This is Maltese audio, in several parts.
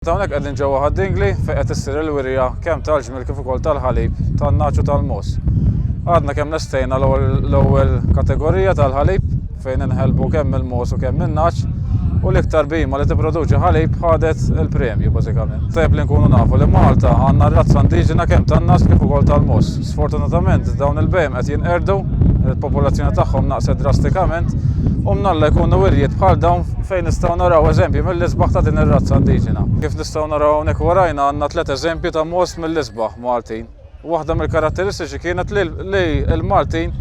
Hawnhekk qegħdin ġewwa Ħad-Dingli fejn qed issir il-wirja kemm tal-ġmiel kif ukoll tal-ħalib tan-nagħaġ u tal-mogħoż. Għadna kemm lestejna l-ewwel kategorija tal-ħalib fejn inħelbu kemm il-mogħoż u kemm in-nagħaġ u l-iktar bhima li tipproduċi ħalib ħadet il-premju bażikament. Tajjeb li nkunu nafu li Malta għandna r-razza indiġena kemm tan-nagħaġ kif ukoll tal-mogħoż. Sfortunatament dawn il-bhejjem qed jinqerdu, il-popolazzjoni tagħhom naqset drastikament u mnalla jkunu wirjiet bħal dawn fejn nistgħu naraw eżempji mill-isbaħ ta' din ir-razza indiġena. Kif nistgħu naraw hawnhekk warajna għandna tliet eżempji ta' most mill-isbaħ Maltin. Waħda mill-karatteristiċi kienet li l-Maltin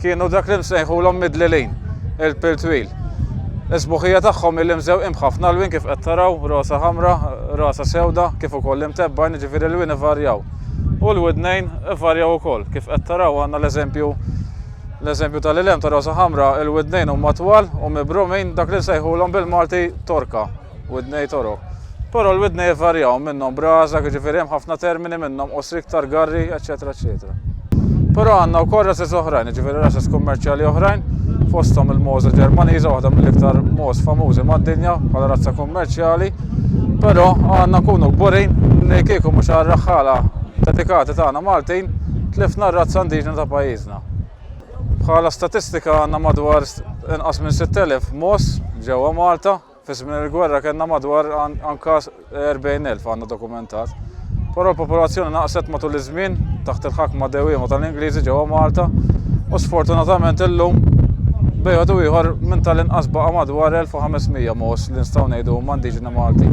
kienu dak li nsejħulhom midlilin, il-pill twil. Is-sbuħija tagħhom hi li mżewqin b'ħafna lwien kif qed taraw, rosa ħamra, rasa sewda, kif ukoll imtebbgħin, jiġifieri l-lwien ivarjaw. U l-widnejn ivarjaw ukoll. Kif qed taraw għandna l-eżempju l-eżempju tal-ilem ta' rosa ħamra, il-widnejn huma twal u mibrumin dak li nsejħulhom bil-Malti torka, widnej torok. Però l-widnej ivarjaw minnhom brażaq, jiġifieri hemm ħafna termini minnhom qosri iktar garri, eċċetera eċċetera. Però għandna wkoll rases oħrajn, jiġifieri rases kummerċjali oħrajn, fosthom il-Mosa Ġermaniża, waħda mill-iktar mogħoż famużi mad-dinja bħala razza kummerċjali, Però għandna nkunu kburin li kieku mhux għar-raħħala dedikati tagħna Maltin, tlifna r-razza indiġena ta' pajjiżna. Bħala statistika għandna madwar inqas minn 6,000 mogħoż ġewwa Malta, fi żmien il-gwerra kellna madwar anka 40,000 għandna dokumentat. Però l-popolazzjoni naqset matul iż-żmien taħt il-ħakma dewwiema tal-Ingliżi ġewwa Malta u sfortunatament illum bejgħet u ieħor minn tal-inqas baqa' madwar 1500 mogħoż li nistgħu ngħidu huma indiġeni Malti.